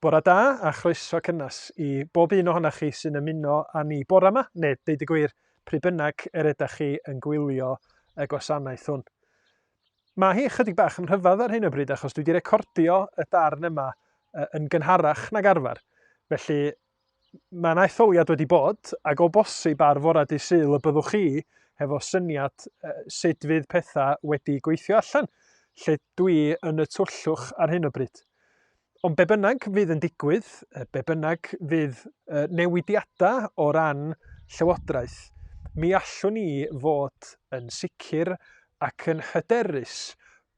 Bore da a chroeso cynnes i bob un ohonoch chi sy'n ymuno â ni bore yma, neu deud y gwir, pryd bynnag yr ydych chi yn gwylio y gwasanaeth hwn. Mae hi ychydig bach yn rhyfedd ar hyn o bryd achos dwi wedi recordio y darn yma yn gynharach nag arfer, felly Mae yna etholiad wedi bod, ac o bosib ar fore dydd Sul y byddwch chi hefo syniad sut fydd pethau wedi gweithio allan, lle dwi yn y tyllwch ar hyn o bryd. Ond be bynnag fydd yn digwydd, be bynnag fydd newidiadau o ran Llywodraeth, mi allwn ni fod yn sicr ac yn hyderus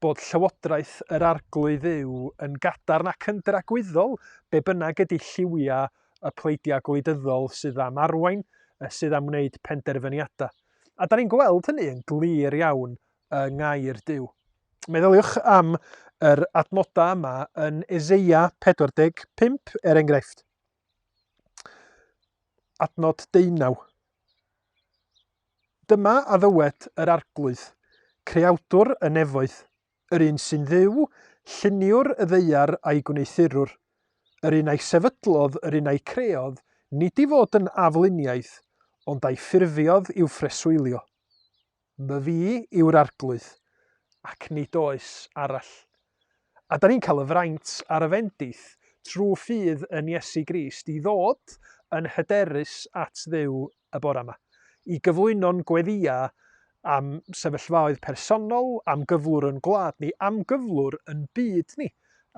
bod Llywodraeth yr Arglwydd yw yn gadarn ac yn dragwyddol, be bynnag ydy lliwiau y pleidiau gwleidyddol sydd am arwain, sydd am wneud penderfyniadau. A da ni'n gweld hynny yn glir iawn yng Ngair Duw. Meddyliwch am yr adnodau yma yn Eseia 45, er enghraifft. Adnod deunaw. Dyma a ddywed yr Arglwydd, Creawdwr y nefoedd, yr un sy'n Dduw, lluniwr y ddaear a'i gwneuthurwr, yr un a'i sefydlodd, yr un a'i creodd, nid i fod yn afluniaeth, ond a'i ffurfiodd i'w phreswylio. Myfi yw'r Arglwydd, ac nid oes arall. A da ni'n cael y fraint a'r y fendith trwy ffydd yn Iesu Grist i ddod yn hyderus at Dduw y bore yma, i gyflwyno'n gweddïau am sefyllfaoedd personol, am gyflwr yn gwlad ni, am gyflwr yn byd ni,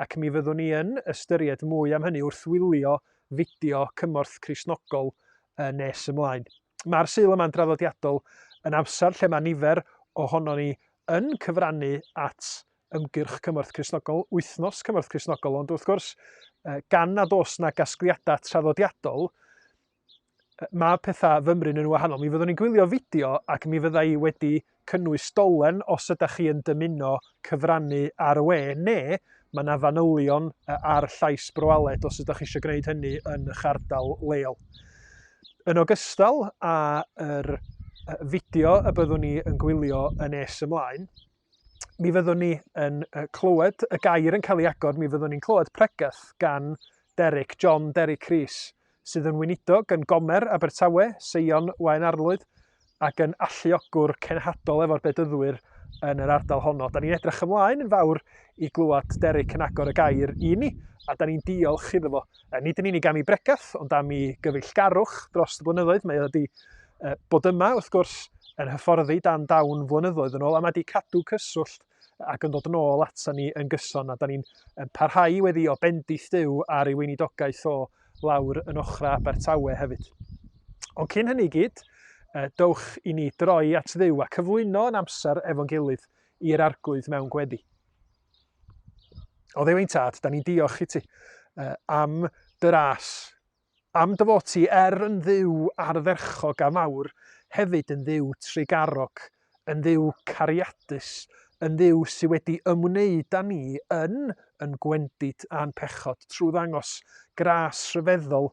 ac mi fyddwn ni yn ystyried mwy am hynny wrth wylio fideo Cymorth Cristnogol nes ymlaen. Mae'r Sul yma'n draddodiadol yn amser lle mae nifer ohonon ni yn cyfrannu at ymgyrch Cymorth Cristnogol, wythnos Cymorth Cristnogol, ond wrth gwrs, gan nad oes na gasgliadau traddodiadol, mae pethau fymryn yn wahanol. Mi fyddwn ni'n gwylio fideo ac mi fydda i wedi cynnwys dolen os ydych chi yn dymuno cyfrannu ar y we, neu mae yna fanylion ar llais Broaled os ydych chi eisiau gwneud hynny yn eich ardal leol. Yn ogystal â'r fideo y byddwn ni yn gwylio yn nes ymlaen, mi fyddwn ni yn clywed y gair yn cael ei agor, mi fyddwn ni'n clywed pregeth gan Derek, John Derek Rees, sydd yn weinidog yn Gomer, Abertawe, Seion, Waun Arlwyd, ac yn alluogwr cenhadol efo'r Bedyddwyr yn yr ardal honno. Da ni'n edrych ymlaen yn fawr i glywed Derek yn agor y gair i ni, a da ni'n diolch iddo fo. Nid yn unig am ei bregath, ond am ei gyfeillgarwch dros y blynyddoedd. Mae wedi bod yma, wrth gwrs, yn hyfforddi dan dawn flynyddoedd yn ôl, a mae wedi cadw cyswllt ac yn dod yn ôl ata ni yn gyson, a da ni'n parhau i weddio bendith Duw ar ei weinidogaeth o lawr yn ochrau Abertawe hefyd. Ond cyn hynny gyd, dowch i ni droi at ddiw a cyflwyno yn amser efo'n gilydd i'r arglwydd mewn gweddi. O ddew ein tad, da ni'n diolch i ti am dy ras Am dy fod ti er yn Dduw ardderchog a mawr, hefyd yn Dduw trugarog, yn Dduw cariadus, yn Dduw sydd wedi ymwneud â ni yn yn gwendid a'n pechod trwy ddangos gras rhyfeddol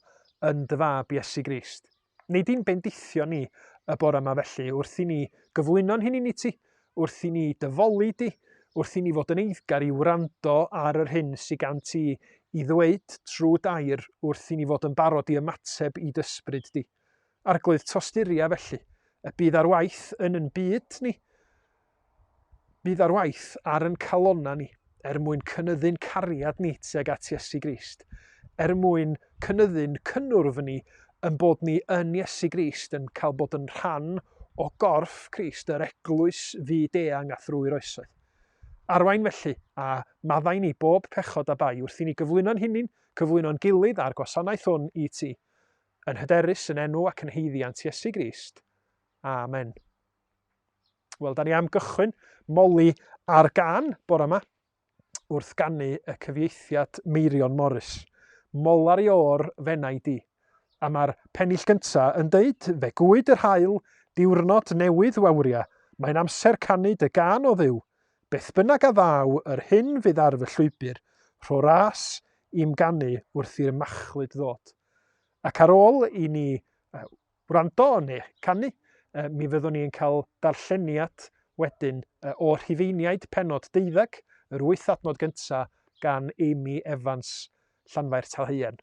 yn dy Fab Iesu Grist. Nid i'n bendithio ni y bore yma felly, wrth i ni gyflwyno'n hunain i ti, Wrth i ni dy foli di, wrth i ni fod yn eiddgar i wrando ar yr hyn sy gan ti i ddweud trwy d'air, wrth i ni fod yn barod i ymateb i d'ysbryd di. Arglwydd Tosturia felly, y bydd ar waith yn yn byd ni, bydd ar waith ar yn calonna ni, er mwyn cynyddu'n cariad ni tuag at Iesu Grist, er mwyn cynyddu'n cynnwrf ni yn bod ni yn Iesu Grist, yn cael bod yn rhan o gorff Crist, yr eglwys fyd-eang a thrwy'r oesoedd. Arwain felly, a maddau ni bob pechod a bai wrth i ni gyflwyno'n hunin, cyflwyno'n gilydd a'r gwasanaeth hwn i ti, yn hyderus yn enw ac yn heiddiant Iesu Grist. Amen. Wel, da ni am gychwyn moli ar gan bore yma wrth gannu y cyfieithiad Meirion Morris. Molar i o'r fenau di. A mae'r pennill gynta yn deud, fe gwyd yr hael, diwrnod newydd wawria, mae'n amser canu dy gan o dduw. Beth bynnag a ddaw, yr hyn fydd ar fy llwybr, rho ras i'm ganu wrth i'r machlud ddod. Ac ar ôl i ni wrando neu canu, mi fyddwn ni yn cael darlleniad wedyn o Rhufeiniaid pennod deuddeg, yr wyth adnod gyntaf gan Amy Evans, Llanfair Talhaearn.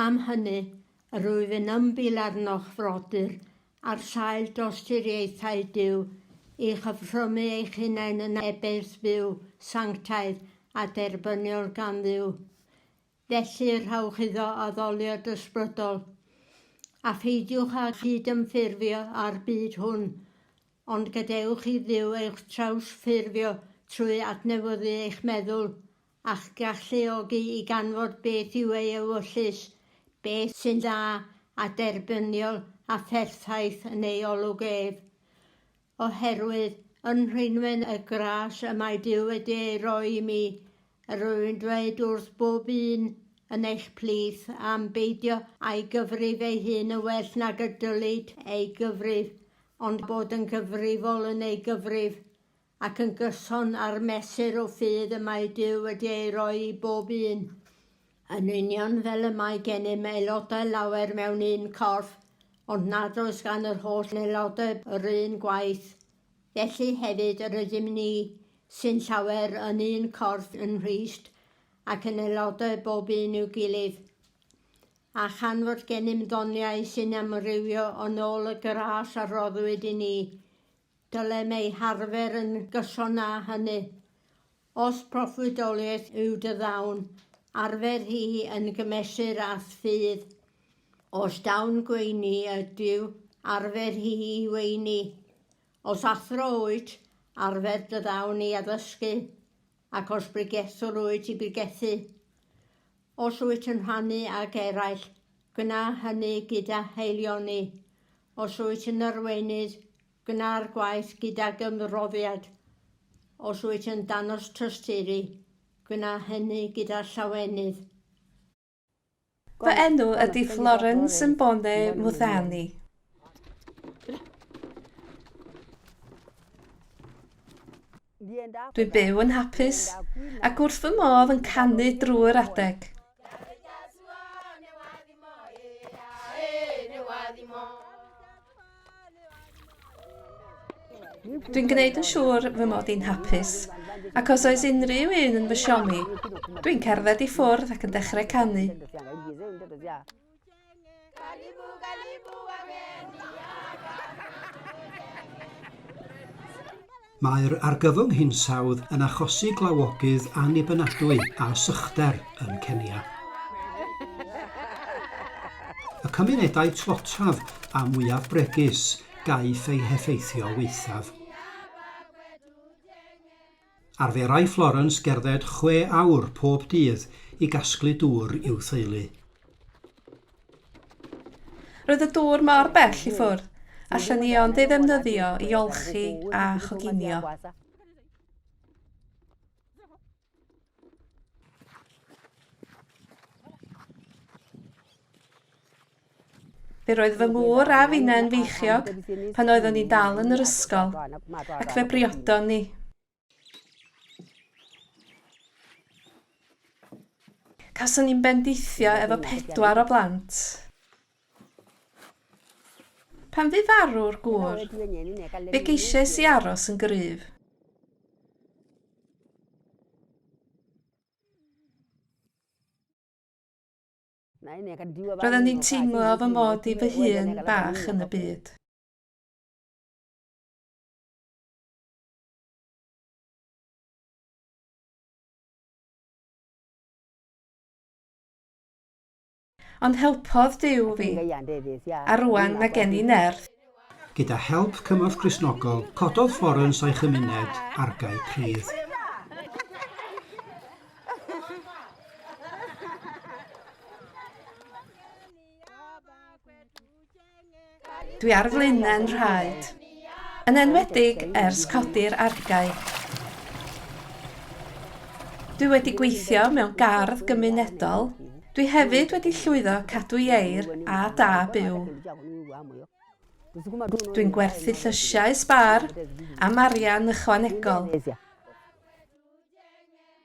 Am hynny, yr wyf yn ymbil arnoch, frodyr, ar sail dosturiaethau Duw, i chyfrymu eich hunain yn ebeirdd fyw, sanctaidd, a derbyniol gan Dduw. Felly, rhowch iddo addoliad ysbrydol, a pheidiwch â chyd-ymffurfio â'r byd hwn, ond gadewch i Dduw eich trawsffurfio trwy adnewyddu eich meddwl a'ch galluogi i ganfod beth yw ei ewyllys, beth sy'n dda a derbyniol a pherffaith yn ei olwg ef. Oherwydd, yn rhwymwen y gras y mae Duw wedi ei roi i mi, yr wy'n dweud wrth bob un yn eich plith am beidio â'i gyfrif ei hun yn well nag y dylid ei gyfrif, ond bod yn gyfrifol yn ei gyfrif, ac yn gyson â'r mesur o ffydd y mae Duw wedi ei roi i bob un, yn union fel y mae gennym aelodau lawer mewn un corff, ond nad oes gan yr holl aelodau yr un gwaith. Felly hefyd yr ydym ni, sy'n llawer, yn un corff yn Nghrist, ac yn aelodau bob un i'w gilydd. A chan fod gennym ddoniau sy'n amrywio yn ôl y gras a roddwyd i ni, Dylem ei harfer yn gyson â hynny. Os proffwydoliaeth yw dy ddawn, arfer hi yn gymesur â ffydd. Os dawn gweini ydyw, arfer hi i weini. Os athro wyt, arfer dy ddawn i addysgu. Ac os bregethwr wyt i bregethu, os wyt yn rhannu ag eraill, gwna hynny gyda haelioni. Os wyt yn arweinydd, gwna'r gwaith gydag ymroddiad. Os wyt yn danos tosturi, gwna hynny gyda llawenydd. Fy enw ydy Florence Mbone Muthani. Dwi'n byw yn hapus ac wrth fy modd yn canu drwy'r adeg. Dwi'n gwneud yn siŵr fy mod i'n hapus, ac os oes unrhyw un yn fy siomi, dwi'n cerdded i ffwrdd ac yn dechrau canu. Mae'r argyfwng hinsawdd yn achosi glawogydd annibynadwy a sychder yn Kenya. Y cymunedau tlotaf a mwyaf bregus gaiff eu heffeithio waethaf. Arferai Florence gerdded chwe awr pob dydd i gasglu dŵr i'w theulu. Roedd y dŵr mor bell i ffwrdd, allan ni ond ei ddefnyddio i olchi a choginio. Fe roedd fy ngŵr a finne'n feichiog pan oeddwn ni'n dal yn yr ysgol, ac fe briodon ni. Cason ni'n bendithio efo pedwar o blant. Pan fu farw'r gŵr, fe geisiais i aros yn gryf. Roedden ni'n teimlo fy mod i fy hun bach yn y byd. Ond helpodd Duw fi, a rŵan mae gen i nerth. Gyda help cymorth Gristnogol, cododd Florence a'i chymuned argae pridd. Dwi ar flaenau 'n rhaed. Yn enwedig ers codi'r argae. Dwi wedi gweithio mewn gardd gymunedol, dwi hefyd wedi llwyddo cadw ieir a da byw. Dwi'n gwerthu llysiau sbar am arian ychwanegol.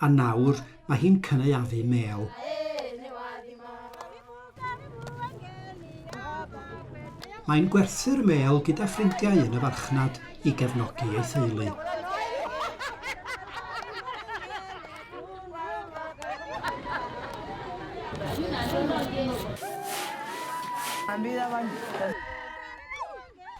a nawr mae hi'n cynaeafu mêl. Mae'n gwerthu'r mêl gyda ffrindiau yn y farchnad i gefnogi ei theulu.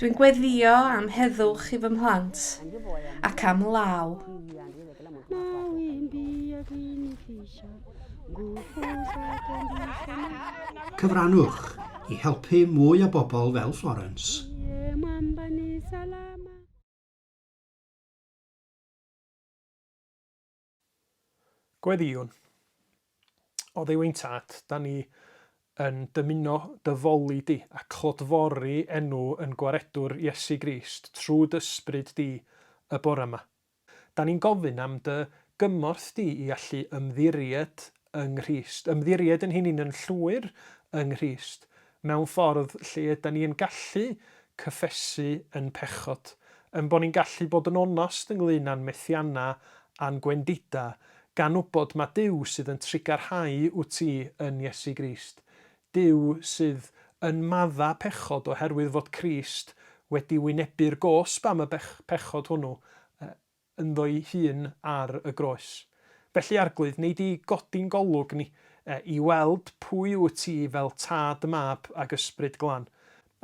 Dwi'n gweddio am heddwch i fy mhlant ac am law. Cyfrannwch i helpu mwy o bobl fel Florence. Gweddïwn. Oddeuwyn Tad, da ni yn dymuno dy foli di, a clodfori enw yn Gwaredwr Iesu Grist trw d'Ysbryd di y bore ma. Da ni'n gofyn am dy gymorth di i allu ymddiried yng Nghrist, ymddiried yn hunin yn llwyr yng Nghrist, mewn ffordd lle yda ni yn gallu cyffesu yn pechod, yn bod ni'n gallu bod yn onast ynglŷn â'n methianna a'n gwendida, gan wybod ma Duw sydd yn trugarhau wt ti yn Iesu Grist, Duw sydd yn madda pechod oherwydd fod Crist wedi wynebu'r gosb am y pechod hwnnw, yy, ynddo'i hun ar y groes. Felly, Arglwydd, wnei di godi'n golwg ni, i weld pwy wyt ti fel Tad, Mab ac Ysbryd Glân.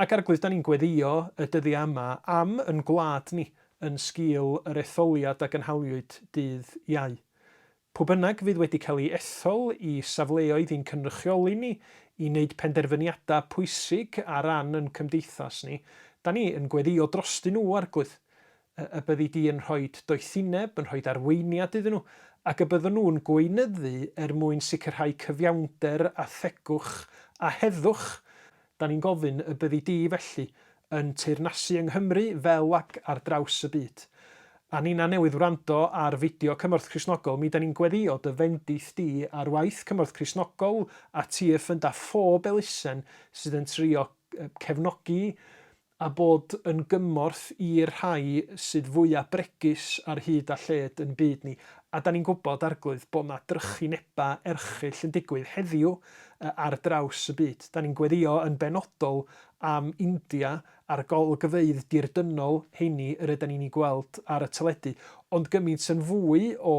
Ac, Arglwydd, da ni'n gweddïo y dyddiau yma am yn gwlad ni yn sgil yr etholiad a gynhaliwyd dydd Iau. Pwy bynnag fydd wedi cael ei ethol i safleoedd i'n cynrychioli ni i wneud penderfyniadau pwysig ar ran yn cymdeithas ni, da ni yn gweddïo drostyn nhw, Arglwydd. Y byddi di yn rhoi doethineb, yn rhoi arweiniad iddyn nhw, ac y bydden nhw'n gweinyddu er mwyn sicrhau cyfiawnder a thegwch a heddwch Da ni'n gofyn y byddi di, felly, yn teyrnasu yng Nghymru fel ac ar draws y byd. A ninna newydd wrando ar fideo Cymorth Cristnogol, mi da ni'n gweddio dy fendith di ar waith Cymorth Cristnogol a ti y ffynda phob elusen sydd yn trio cefnogi a bod yn gymorth i'r rhai sydd fwya' bregus ar hyd a lled yn byd ni, a 'da ni'n gwybod, Arglwydd, bod 'na drychineba' erchyll yn digwydd heddiw ar draws y byd. 'Da ni'n gweddïo yn benodol am India a'r golygfeydd dirdynol heini yr ydan ni'n 'u gweld ar y teledu, ond gymint yn fwy o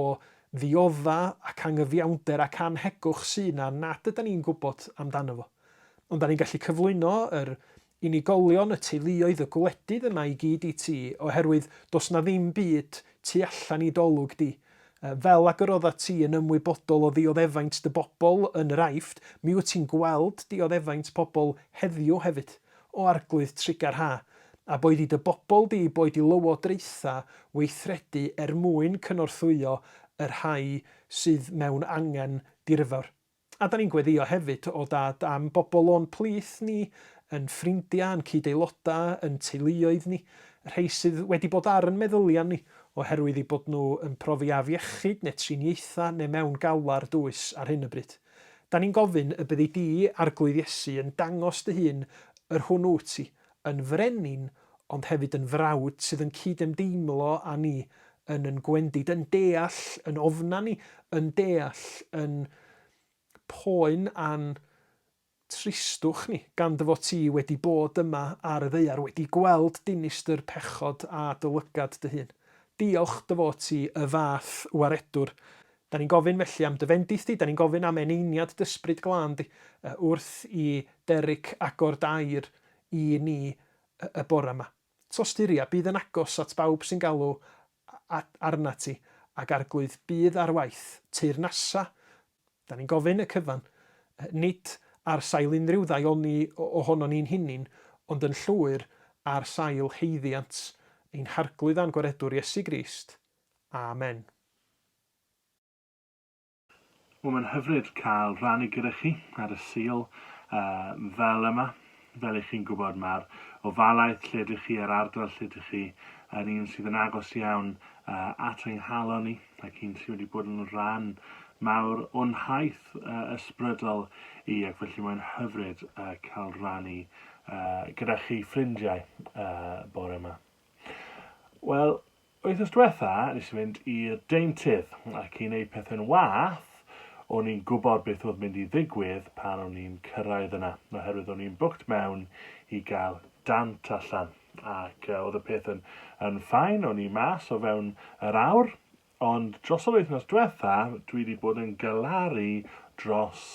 ddiodda' ac angyfiawnder ac annhegwch sy' 'na nad ydan ni'n gwybod amdano fo. Ond 'da ni'n gallu cyflwyno yr Unigolion y teuluoedd y gwledydd yma i gyd i ti oherwydd does na ddim byd tu allan i d'olwg di. Fel ag yr oeddat ti yn ymwybodol o ddioddefaint dy bobl yn yr Aifft, mi wyt ti'n gweld dioddefaint pobl heddiw hefyd, o Arglwydd Trigar Ha, a boed i dy bobl di boed i lywodraethau weithredu er mwyn cynorthwyo y rhai sydd mewn angen dirfawr. A dan ni'n gweddïo hefyd o Dad am bobl o'n plith ni, yn ffrindiau, yn cyd-aelodau, yn teuluoedd ni, rhei sydd wedi bod ar yn meddyliau ni oherwydd eu bod nhw yn profi afiechyd neu triniaethau neu mewn galar dwys ar hyn o bryd. Dan ni'n gofyn y byddi di, Arglwydd Iesu, yn dangos dy hun yr hwn wyt ti, yn frenin ond hefyd yn frawd sydd yn cyd-ymdeimlo â ni, yn yn gwendid, yn deall yn ofnau ni, yn deall yn poen a'n tristwch ni, gan dy fod ti wedi bod yma ar y ddaear, wedi gweld dinistr pechod a dy lygad dy hun. Diolch dy fod ti y fath waredwr Da ni'n gofyn felly am dy fendith di, da ni'n gofyn am eneiniad d'Ysbryd Glân di, wrth i Derrick agor dy air i ni y bore ma. Tos di Ria, bydd yn agos at bawb sy'n galw arnat ti, ac Arglwydd bydd ar waith, teyrnasa, da ni'n gofyn y cyfan, nid ar sail unrhyw ddaioni ohonon ni'n hunin, ond yn llwyr ar sail haeddiant ein Harglwydd a'n Gwaredwr Iesu Grist. Amen. Wel mae'n hyfryd cael rhannu gyda chi ar y Sul uh, fel yma. Fel i chi'n gwybod mae'r ofalaeth lle ydych chi a'r ardal lle ydych chi yn un sydd yn agos iawn uh, at ein halon ni ac un sydd wedi bod yn rhan mawr o'n haith uh, ysbrydol i ac felly mae'n hyfryd uh, cael rhannu uh, gyda chi ffrindiau uh, bore yma. Wel, Wythnos dwetha nes i fynd i'r deintydd ac i neud pethe'n wath o'n i'n gwbod beth oedd mynd i ddigwydd pan o'n i'n cyrraedd yna oherwydd o'n i'n booked mewn i gael dant allan ac oedd y peth yn, yn ffain, o'n i mas o fewn yr awr ond dros yr wythnos dwetha dwi wedi bod yn galaru dros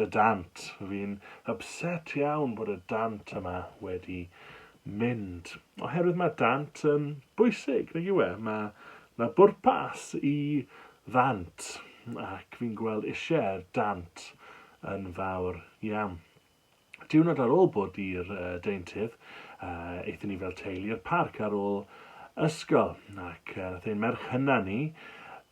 Y dant. Fi'n ypset iawn bod y dant yma wedi mynd. Oherwydd mae dant yn bwysig, nag yw e? Mae 'na bwrpas i ddant ac fi'n gweld eisiau'r dant yn fawr iawn. Diwrnod ar ôl bod i'r uh, deintydd, uh, eithon ni fel teulu i'r parc ar ôl ysgol ac uh, nath ein merch hynna ni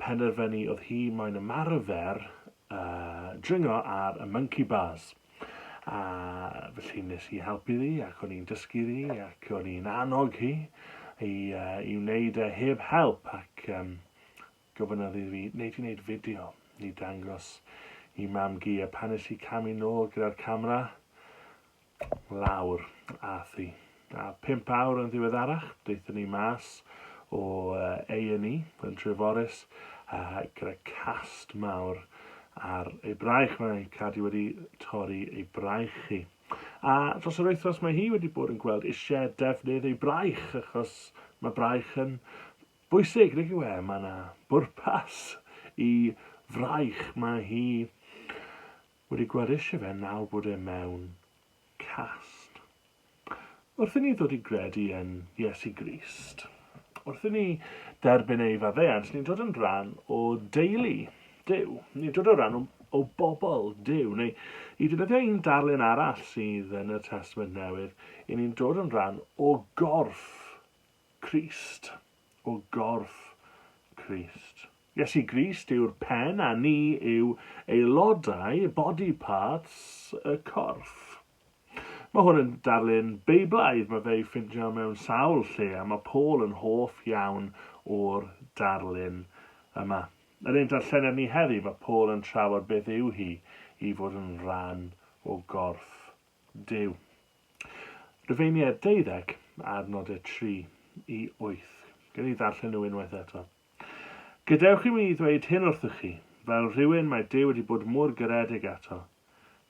penderfynu oedd hi moyn ymarfer dringo ar y monkey bars a felly nes i helpu ddi ac o'n i'n dysgu ddi ac o'n i'n annog hi i, uh, i wneud e heb help ac um, gofynnodd i fi, wneud i wneud fideo i dangos i mam gi a pan nes i camu nôl gyda'r camera lawr ath i. A pump awr yn ddiweddarach, daethon ni mas o A&E yn Treforys a gyda cast mawr ar ei braich. Mae Cadi wedi torri ei braich hi. A dros yr wythnos mae hi wedi bod yn gweld eisiau defnydd ei braich achos mae braich yn bwysig, nid yw e? Mae yna bwrpas i fraich. Mae hi Wedi gwerisio fe nawr bod e mewn cast. Wrth i ni ddod i gredu yn Iesu Grist, wrth i ni derbyn ei faddeuant, ni'n dod yn rhan o deulu Duw. Ni'n dod o ran o, o bobl Duw, neu i ddefnyddio un darlun arall sydd yn y Testament Newydd, i ni'n dod yn rhan o gorff Crist, o gorff Crist. Iesu Grist yw'r pen a ni yw aelodau, body parts, y corff. Mae hwn yn darlun Beiblaidd, mae fe'i ffindio mewn sawl lle a mae Paul yn hoff iawn o'r darlun yma. Yn ein darllenedd ni heddi, mae Paul yn trafod beth yw hi i fod yn rhan o gorff Duw. Rhufeiniaid deuddeg, adnodau tri i wyth. Gen i ddarllen nhw unwaith eto. Gadewch i mi ddweud hyn wrthych chi, fel rhywun mae Duw wedi bod mor garedig ato,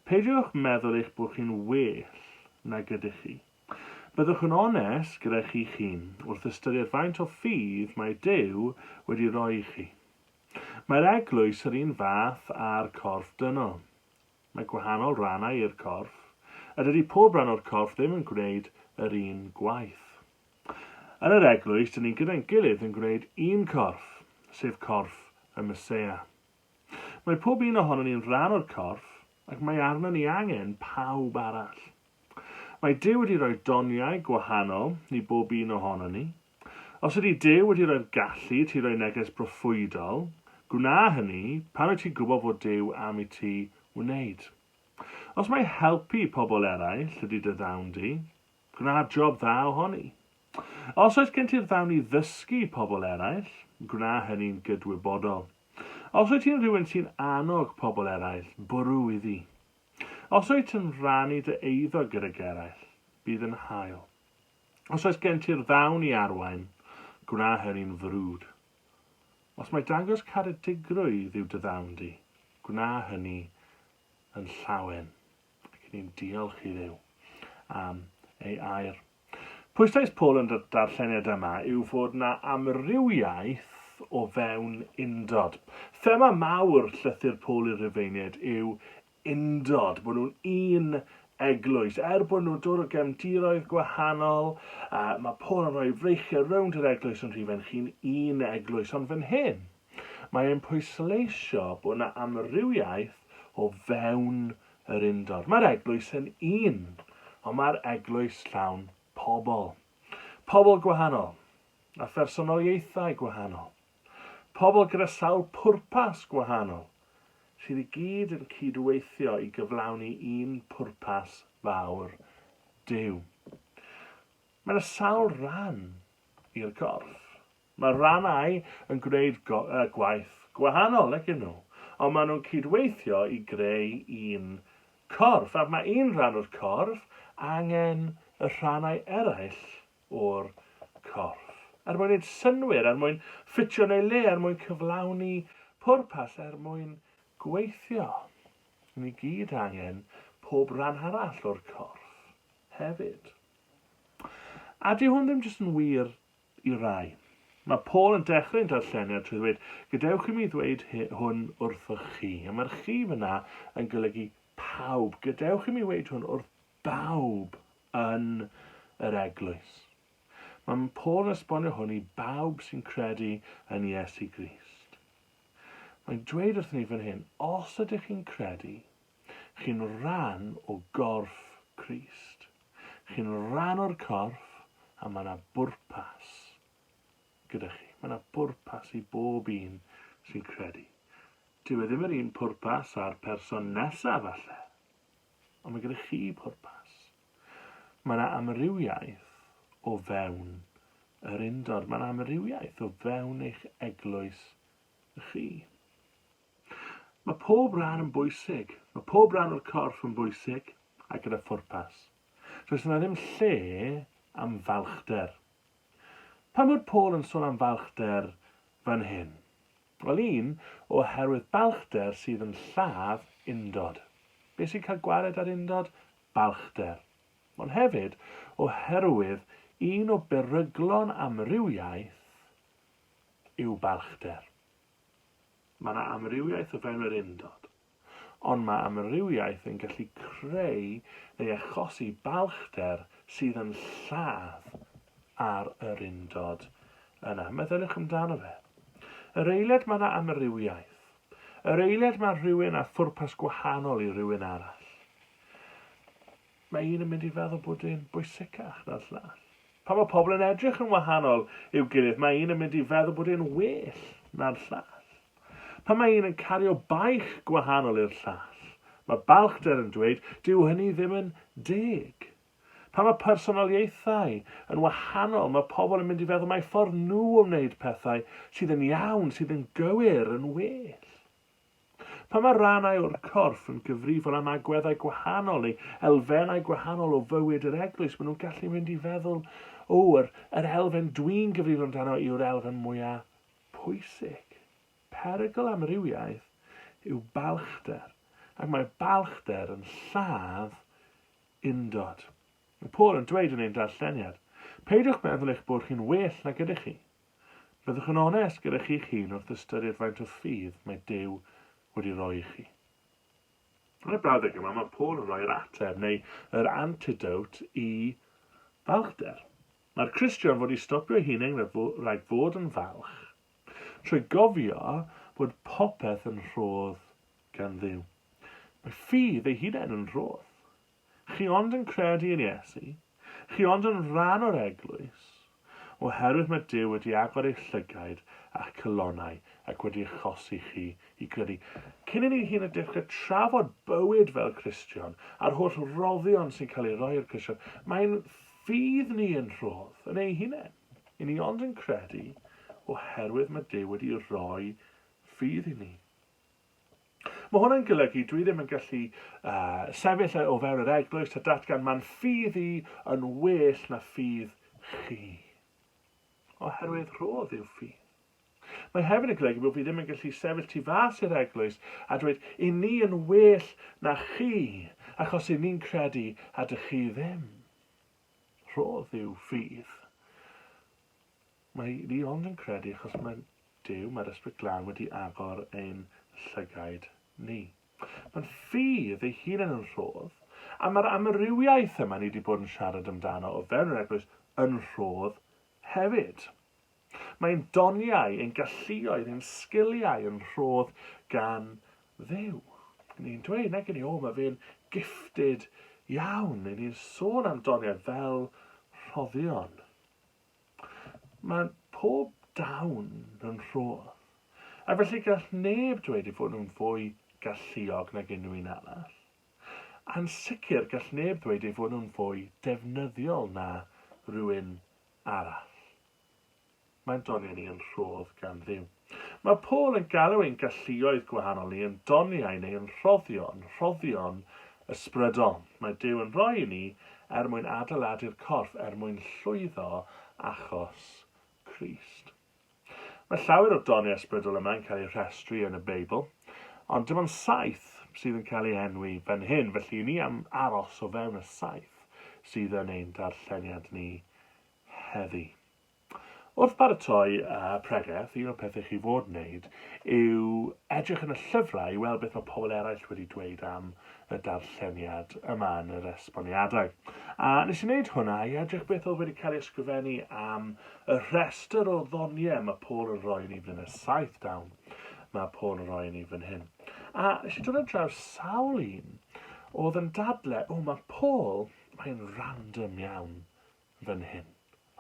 peidiwch meddwl eich bod chi'n well nag ydych chi. Byddwch yn onest gyda chi'ch hun wrth ystyried faint o ffydd mae Duw wedi rhoi i chi. Mae'r eglwys yr un fath â'r corff dynol. Mae gwahanol rannau i'r corff, a dydy pob rhan o'r corff ddim yn gwneud yr un gwaith. Yn yr Eglwys, dyn ni gyda'n gilydd yn gwneud un corff, sef corff y Meseia. Mae pob un ohonon ni'n rhan o'r corff, ac mae arnon ni angen pawb arall. Mae Duw wedi rhoi doniau gwahanol i bob un ohonon ni. Os ydy Duw wedi rhoi'r gallu i ti roi neges broffwydol, gwna hynny pan wyt ti'n gwybod fod Duw am i ti wneud. Os mai helpu pobl eraill ydy dy ddawn di, Gwna job dda ohoni. Os oes gen ti'r ddawn i ddysgu pobl eraill, gwna hynny'n gydwybodol. Os wyt ti'n rhywun sy'n annog pobl eraill, bwrw iddi. Os wyt yn rhannu dy eiddo gydag eraill, bydd yn hael. Os oes gen ti'r ddawn i arwain, gwna hynny'n frwd. Os mae dangos caredigrwydd yw dy ddawn di, gwna hynny yn llawen. Ac ni'n diolch i Dduw am ei air. Pwyslais Paul yn y darlleniad yma yw fod na amrywiaeth o fewn undod. Thema mawr llythyr Paul i'r Rhufeiniaid yw undod, bod nhw'n un eglwys. Er bod nhw'n dod o gefndiroedd gwahanol, uh, mae Paul yn rhoi freichiau rownd yr eglwys yn rhifench chi'n un eglwys. Ond fan hyn, Mae e'n pwysleisio bod 'na amrywiaeth o fewn yr undod. Mae'r eglwys yn un, ond mae'r eglwys llawn pobl. Pobl gwahanol, a phersonoliaethau gwahanol. Pobl gyda sawl pwrpas gwahanol, sydd i gyd yn cyd-weithio i gyflawni un pwrpas fawr, Duw. Mae 'na sawl ran i'r gorff. Mae rhannau yn gwneud gwaith gwahanol ydyn nhw, ond maen nhw'n cydweithio i greu un corff, ac mae un rhan o'r corff angen y rhannau eraill o'r corff er mwyn wneud synnwyr, er mwyn ffitio yn ei le, er mwyn cyflawni pwrpas, er mwyn gweithio. Ni i gyd angen pob rhan arall o'r corff hefyd. A dyw hwn ddim jyst yn wir i rai. Mae Paul yn dechreu'n darllenio trwy ddweud, Gadewch i mi ddweud hwn wrthoch chi. A mae'r chi fyna yn golygu pawb. Gadewch i mi ddweud hwn wrth bawb yn yr eglwys. Mae Paul yn esbonio hwn i bawb sy'n credu yn Iesu Grist. Mae'n dweud wrthyn ni fan hyn, os ydych chi'n credu, Chi'n rhan o gorff Crist. Chi'n rhan o'r corff a mae 'na bwrpas gyda chi. Mae 'na bwrpas i bob un sy'n credu. Dyw e ddim yr un pwrpas â'r person nesaf falle, ond mae gyda chi pwrpas. Mae 'na amrywiaeth o fewn yr undod. Mae 'na amrywiaeth o fewn eich eglwys chi. Mae pob rhan yn bwysig. Mae pob rhan o'r corff yn bwysig a gyda phwrpas. Does yna ddim lle am falchder. Pam fod Paul yn sôn am falchder fan hyn? Wel, un, oherwydd balchder sydd yn lladd undod. Be sy'n cael gwared ar undod? Balchder. Ond hefyd, oherwydd un o beryglon amrywiaeth yw balchder. Mae yna amrywiaeth o fewn yr undod, ond mae amrywiaeth yn gallu creu neu achosi balchder sydd yn lladd ar yr undod yna. Meddyliwch amdano fe. Yr eiliad mae yna amrywiaeth. Yr eiliad mae rhywun â phwrpas gwahanol i rywun arall. Mae un yn mynd i feddwl bod e'n bwysicach na'r llall. Pan mae pobl yn edrych yn wahanol i'w gilydd, mae un yn mynd i feddwl bod e'n well na'r llall. Pan mae un yn cario baich gwahanol i'r llall, mae balchder yn dweud, dyw hynny ddim yn deg. Pan mae personoliaethau yn wahanol, mae pobl yn mynd i feddwl mai ffordd nhw o wneud pethau sydd yn iawn, sydd yn gywir, yn well. Pan mae rhannau o'r corff yn gyfrifol am agweddau gwahanol neu elfennau gwahanol o fywyd yr eglwys, maen nhw'n gallu mynd i feddwl, O, yr, yr elfen dwi'n gyfrifol amdano yw'r elfen mwyaf pwysig. Perygl amrywiaeth yw balchder, ac mae balchder yn lladd undod. Mae Paul yn dweud yn ein darlleniad, Peidiwch meddwl eich bod chi'n well nag ydych chi. Byddwch yn onest gyda chi'ch hun wrth ystyried faint o ffydd mae Duw wedi roi i chi. Yn y brawddeg yma, mae Paul yn rhoi'r ateb, neu yr antidote, i falchder. Mae'r Cristion fod i stopio'i hunain rhag fod yn falch, trwy gofio bod popeth yn rhodd gan Dduw. Mae ffydd ei hunain yn rhodd. Chi ond yn credu yn Iesu? Chi ond yn rhan o'r Eglwys? Oherwydd mae Duw wedi agor eich llygaid a'ch calonnau ac wedi achosi chi i gredu. Cyn i ni hyd yn oed dechrau trafod bywyd fel Cristion a'r holl roddion sy'n cael ei roi i'r Cristion, mae ein ffydd ni yn rhodd yn eu hunain. I ni ond yn credu oherwydd mae Duw wedi rhoi ffydd i ni. Mae hwnna'n golygu dwi ddim yn gallu sefyll o fewn yr eglwys a datgan mae'n ffydd i yn well na ffydd chi. Oherwydd rhodd yw ffydd. Mae hefyd yn golygu bod fi ddim yn gallu sefyll tu fas i'r eglwys a dweud i ni yn well na chi achos i ni'n credu a dych chi ddim. Rhodd yw ffydd. Mae fi ond yn credu achos mae Duw, mae'r Ysbryd Glân wedi agor ein llygaid ni. Mae'n ffydd ei hunain yn rhodd, a mae'r amrywiaeth yma ni 'di bod yn siarad amdano o fewn yr Eglwys yn rhodd hefyd. Mae ein doniau, ein galluoedd, ein sgiliau yn rhodd gan Dduw. Ni'n dweud, nag i ni, o, mae fe'n gifted iawn. Ni'n sôn am doniau fel rhoddion. Mae pob dawn yn rhodd, a felly gall neb dweud ei fod nhw'n fwy galluog nag unrhyw un arall. A'n sicr gall neb ddweud ei fod nhw'n fwy defnyddiol na rhywun arall. Mae'n doniau ni yn rhodd gan Dduw. Mae Paul yn galw ein galluoedd gwahanol ni yn doniau neu yn rhoddion, rhoddion ysbrydol. Mae Duw yn rhoi i ni er mwyn adeiladu'r corff, er mwyn llwyddo achos Crist. Mae llawer o'r doniau ysbrydol yma yn cael eu rhestru yn y Beibl, ond dim ond saith sydd yn cael ei enwi fan hyn, felly i ni am aros o fewn y saith sydd yn ein darlleniad ni heddi. Wrth baratoi pregeth, un o'r pethau chi fod wneud yw edrych yn y llyfrau i weld beth mae pobl eraill wedi dweud am y darlleniad yma yn yr esboniadau. A nes i wneud hwnna i edrych beth oedd wedi cael ei ysgrifennu am y rhestr o ddoniau mae Paul yn rhoi i ni fan hyn, y saith dawn mae Paul yn rhoi i ni fan hyn. A nes i dod ar draws sawl un oedd yn dadle, o mae Paul, mae'n random iawn fan hyn.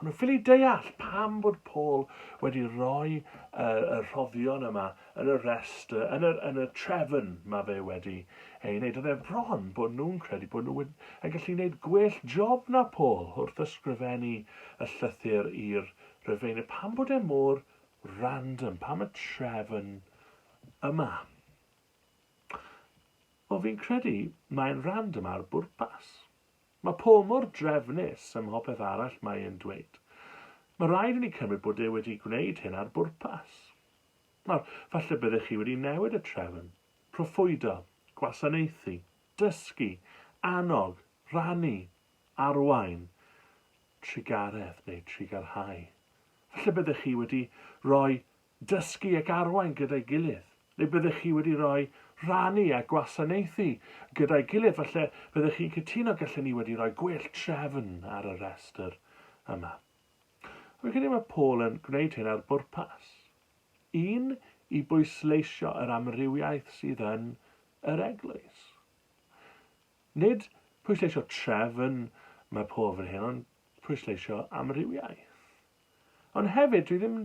O'n nhw'n ffili deall pam bod Paul wedi rhoi yr, y rhoddion yma yn y restr, yn y, yn y trefn mae fe wedi ei wneud. Oedd e bron bod nhw'n credu bod nhw wedi, yn gallu gwneud gwell job na Paul wrth ysgrifennu y llythyr i'r Rhufeinydd. Pam bod e mor random? Pam y trefn yma? Wel, fi'n credu mae'n random ar bwrpas. Mae Paul mor drefnus ym mhob peth arall mae e'n dweud. Mae rhaid i ni cymryd bod e wedi gwneud hyn ar bwrpas. Nawr, falle byddech chi wedi newid y trefn, proffwydo, gwasanaethu, dysgu, annog, rhannu, arwain, trugaredd neu trugarhau. Falle byddech chi wedi rhoi dysgu ac arwain gyda'i gilydd. Neu byddech chi wedi rhoi rhannu a gwasanaethu gyda'i gilydd, falle byddech chi'n cytuno gallen ni wedi rhoi gwell trefn ar y rhestr yma. Fi'n credu mae Paul yn gwneud hyn ar bwrpas. Un, i bwysleisio yr amrywiaeth sydd yn yr eglwys. Nid pwysleisio trefn mae Paul fan hyn, ond pwysleisio amrywiaeth. Ond hefyd, dwi ddim,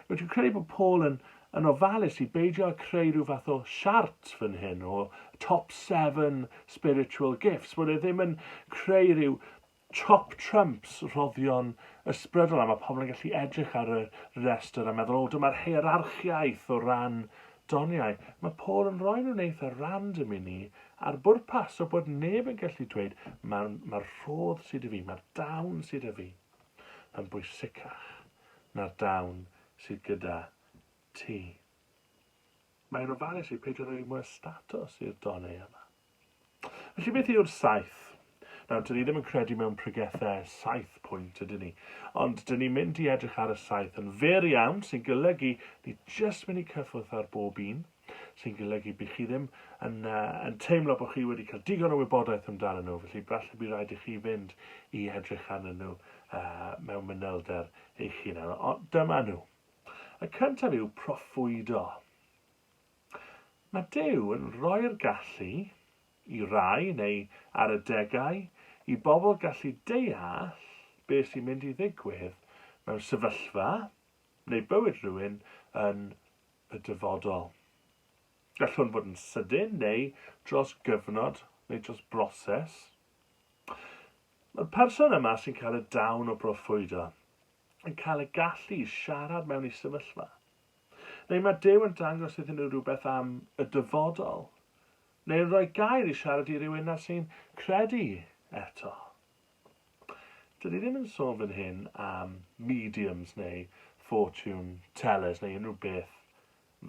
dwi'n credu bod Paul yn, yn ofalus i beidio â creu rhyw fath o siart fan hyn o top seven spiritual gifts, bod e ddim yn creu rhyw top trumps rhoddion ysbrydol a mae pobl yn gallu edrych ar y restr a meddwl, o, dyma'r heirarchiaeth o ran doniau. Mae Paul yn rhoi nhw'n eitha random i ni a'r bwrpas o bod neb yn gallu dweud mae'r mae rhodd sydd y fi, mae'r dawn sydd y fi. yn bwysicach na'r dawn sydd gyda ti. Mae'n ofalus i peidio rhoi mwy o statws i'r donnau yma. Felly beth yw'r saith? Nawr, dyn ni ddim yn credu mewn pregethau saith pwynt, ydyn ni. Ond dyn ni'n mynd i edrych ar y saith yn fer iawn, sy'n golygu ni jyst mynd i cyffwrdd ar bob un. sy'n golygu bydd chi ddim yn, uh, yn teimlo bod chi wedi cael digon o wybodaeth amdano nhw, felly falle bydd rhaid i chi fynd i edrych arnyn nhw uh, mewn mynylder eich hunan. Ond dyma nhw. Y cyntaf yw proffwydo. Mae Dyw yn rhoi'r gallu i rai neu ar y degau i bobl gallu deall beth sy'n mynd i ddigwydd mewn sefyllfa neu bywyd rhywun yn y dyfodol. Gall hwn fod yn sydyn neu dros gyfnod neu dros broses. Mae'r person yma sy'n cael y dawn o broffwydo yn cael y gallu i siarad mewn i sefyllfa. Neu mae Dyw yn dangos iddyn nhw rhywbeth am y dyfodol. Neu yn rhoi gair i siarad i rywun nad sy'n credu eto. Dyn ni ddim yn sôn fan hyn am mediums neu fortune tellers neu unrhyw beth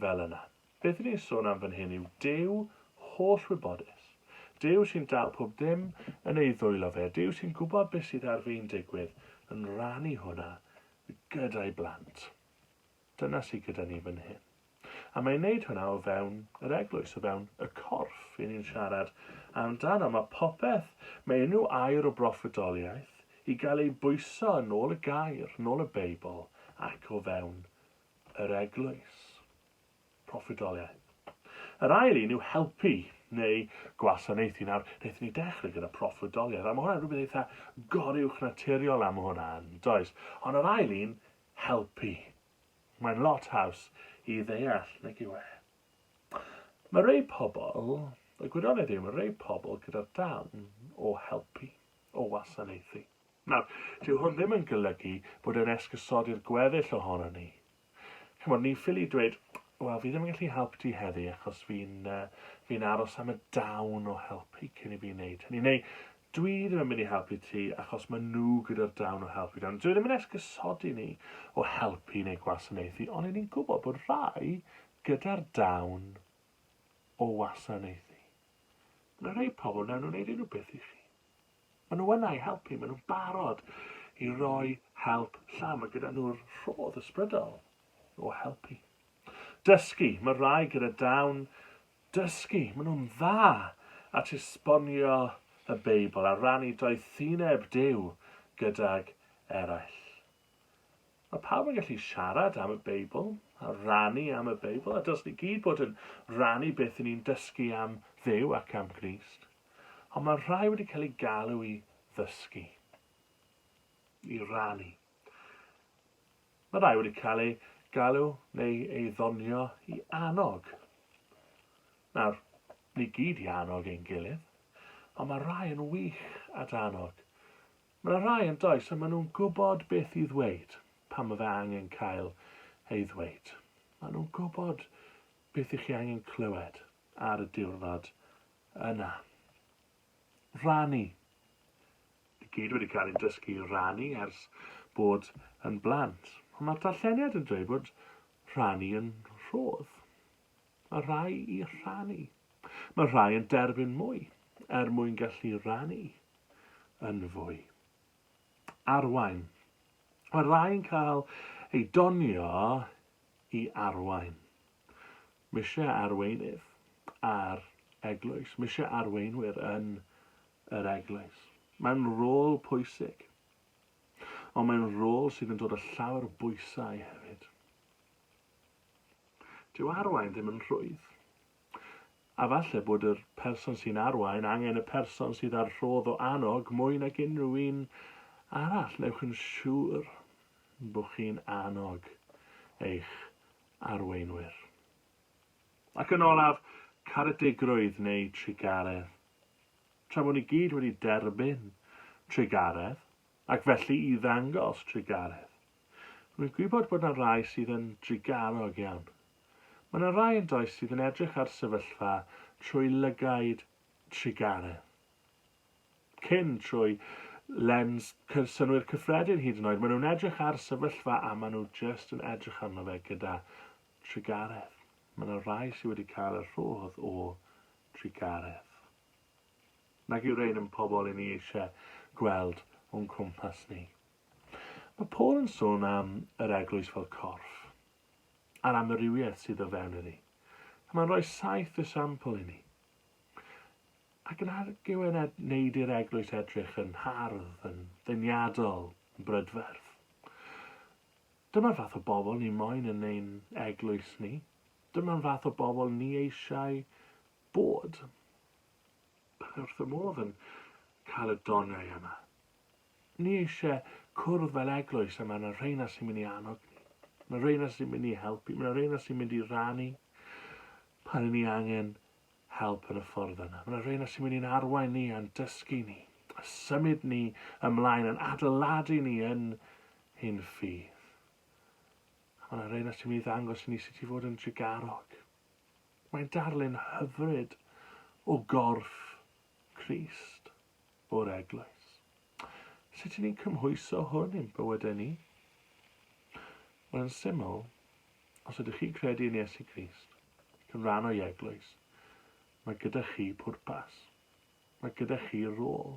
fel yna. Beth i ni'n sôn am fan hyn yw Duw holl wybodus. Duw sy'n dal pob dim yn ei ddwylo fe. Duw sy'n gwybod beth sydd ar fin digwydd yn rannu hwnna gyda'i blant. Dyna sydd gyda ni fan hyn. A mae'n wneud hwnna o fewn yr eglwys, o fewn y corff, i ni'n siarad amdano. Mae popeth, mae unrhyw air o broffwydoliaeth i gael ei bwyso yn ôl y gair, yn ôl y Beibl, ac o fewn yr eglwys. Proffwydoliaeth. Yr ail un yw helpu neu gwasanaethu. Nawr, wnaethon ni dechrau gyda proffwydoliaeth, a mae hwnna'n rhywbeth eitha goruwch naturiol am hwnna, does? Ond yr ail un helpu. Mae'n lot haws i ddeall nag yw e? Mae rhai pobl, y gwirionedd yw, mae rhai pobl gyda'r darn o helpu, o wasanaethu. Nawr, dyw hwn ddim yn golygu bod e'n esgusodi'r gweddill ohonon ni. Chimod, ni'n ffili dweud, wel, fi ddim yn gallu helpu ti heddi achos fi'n uh, fi aros am y dawn o helpu cyn i fi wneud hynny. Neu, Dwi ddim yn mynd i helpu ti achos maen nhw gyda'r dawn o helpu dan. Dwi ddim yn esgusodi ni o helpu neu gwasanaethu ond 'yn ni'n gwybod bod rhai gyda'r dawn o wasanaethu. Mae 'na rhai pobl wnawn nhw wneud unrhyw beth i chi. Maen nhw yna i helpu, maen nhw'n barod i roi help llawn, mae gyda nhw'r rhodd ysbrydol o helpu. Dysgu, mae rhai gyda dawn Dysgu, maen nhw'n dda at esbonio y Beibl a rannu doethineb Duw gydag eraill. Mae pawb yn gallu siarad am y Beibl a rannu am y Beibl, a dylswn ni gyd bod yn rannu beth i ni'n dysgu am Dduw ac am Grist. Ond mae rhai wedi cael eu galw i ddysgu, i rannu. Mae rhai wedi cael eu galw neu ei ddonio i annog. Nawr, ni gyd i annog ein gilydd, ond mae rhai yn wych at annog. Mae yna rhai yn does a maen nhw'n gwybod beth i ddweud pan mae fe angen cael ei ddweud. Maen nhw'n gwybod beth i chi angen clywed ar y diwrnod yna. rhannu. I gyd wedi cael ein dysgu i rannu ers bod yn blant, ond mae'r darlleniad yn dweud bod rhannu yn rhodd. Mae rhai i rhannu. Mae rhai yn derbyn mwy er mwyn gallu rannu yn fwy. Arwain. Mae rhai yn cael ei donio i arwain. Mise arweinydd a'r eglwys, mise arweinwyr yn yr eglwys. Mae'n rôl pwysig. Ond mae'n rôl sydd yn dod â llawer bwysau hefyd. Dyw arwain ddim yn rhwydd. A falle bod yr person sy'n arwain angen y person sydd ar rhodd o annog mwy nag unrhyw un arall. Newch yn siŵr bod chi'n annog eich arweinwyr. Ac yn olaf, caredigrwydd neu trugaredd. Tra bod ni gyd wedi derbyn trugaredd, ac felly i ddangos trugaredd. Rwy'n gwybod bod yna rai sydd yn drugarog iawn. Mae yna rai yn does sydd yn edrych ar sefyllfa trwy lygaid trugaredd. cyn trwy lens synnwyr cyffredin hyd yn oed. Maen nhw'n edrych ar sefyllfa a maen nhw jyst yn edrych arno fe gyda trugaredd. Mae yna rai sydd wedi cael y rhodd o trugaredd. Nag yw rhain yn pobl i ni eisiau gweld o'n cwmpas ni. Mae Paul yn sôn am yr eglwys fel corff, a'r amrywiaeth sydd o fewn iddi. Mae'n rhoi saith esiampl i ni. Ac yn ar gywen ed wneud i'r eglwys edrych yn hardd, yn ddeniadol, yn brydferth. Dyma'r fath o bobl ni moyn yn ein eglwys ni. Dyma'r fath o bobl ni eisiau bod. Byddai ni wrth y modd yn cael y doniau yma. Ni eisiau cwrdd fel eglwys a mae yna reina sy'n mynd i annog ni. Mae reina sy'n mynd i helpu, mae yna reina sy'n mynd i rannu pan ni angen help yn y ffordd yna. Mae yna reina sy'n mynd i'n arwain ni a'n dysgu ni, a symud ni ymlaen, yn adeiladu ni yn hyn ffydd. A mae yna reina sy'n mynd i ddangos i ni sut i fod yn drugarog. Mae'n darlun hyfryd o gorff Christ o'r eglwys. Sut i ni'n cymhwyso hwn i'n bywydau ni? Wel, yn syml, os ydych chi'n credu yn Iesu Grist, ac yn rhan o'i eglwys, mae gyda chi pwrpas. Mae gyda chi rôl.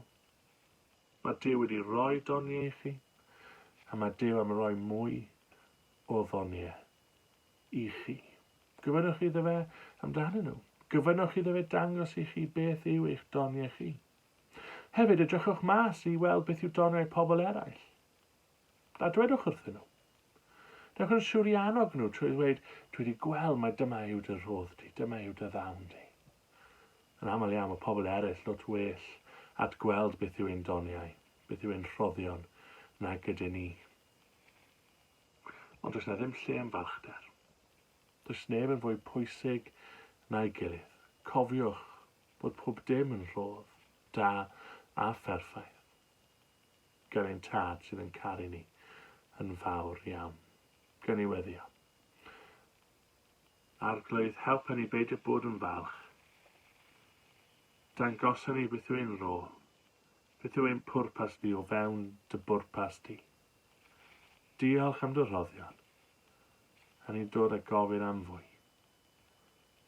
Mae Duw wedi rhoi doniau i chi, a mae Duw am roi mwy o ddoniau i chi. Gofynnwch iddo fe amdanyn nhw. Gofynnwch iddo fe dangos i chi beth yw eich doniau chi. Hefyd, edrychwch mas i weld beth yw doniau pobl eraill, a dwedwch wrthyn nhw. Dewch yn siwr i annog nhw trwy ddweud, dwi wedi gweld mai dyma yw dy rhodd di, dyma yw dy ddawn di. Yn aml iawn mae pobl eraill lot well at gweld beth yw ein doniau, beth yw ein rhoddion na gyda ni. Ond does na ddim lle am balchder. Does neb yn fwy pwysig na'i gilydd. Cofiwch, bod pob dim yn rhodd, da a pherffaith gan ein Tad sydd yn caru ni yn fawr iawn. Gawn ni weddio. Arglwydd, helpa ni beidio bod yn falch. Dangosa ni beth yw ein rôl, beth yw ein pwrpas di o fewn dy bwrpas di. Diolch am dy rhoddion, a ni'n dod a gofyn am fwy.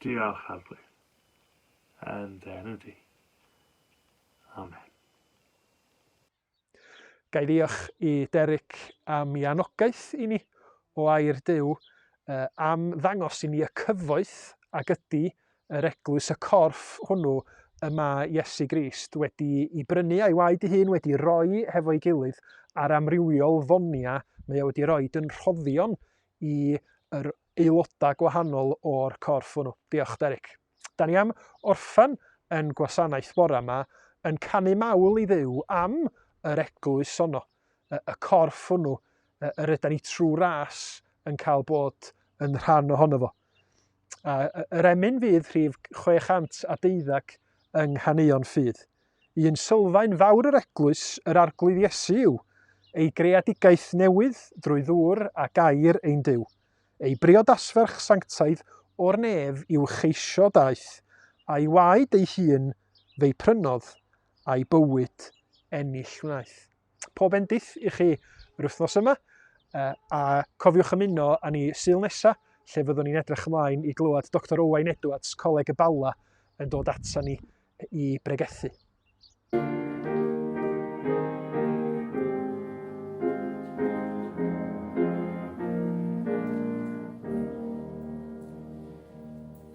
Diolch, Arglwydd. yn dy enw di. Amen. Gai ddiolch i Derek am i anogaeth i ni o air Dyw am ddangos i ni y cyfoeth ag ydy yr eglwys, y corff hwnnw y mae Iesu Grist wedi i brynu a'i waed ei hun wedi roi hefo'i gilydd a'r amrywiol fonia mae o wedi roi yn rhoddion i yr aelodau gwahanol o'r corff hwnnw. Diolch, Derek. Da ni am orffen yn gwasanaeth bore yma yn canu mawl i Dduw am yr eglwys honno, y corff hwnnw yr yda ni trwy ras yn cael bod yn rhan ohono fo. A yr emyn fydd rhif 612 yng nghaneuon ffydd. Un sylfaen fawr yr Eglwys, yr Arglwydd Iesu, yw ei greadigaeth newydd drwy ddŵr a gair ein Duw. Ei briodasferch sanctaidd o'r nef i'w cheisio daeth, a'i waed ei hun fe'i prynodd, a'i bywyd ennill wnaeth. Pob endith i chi yr wythnos yma, a cofiwch ymuno â ni syl nesaf, lle fyddwn ni'n edrych ymlaen i glywed Dr Owain Edwards, Coleg y Bala, yn dod ata ni i bregethu.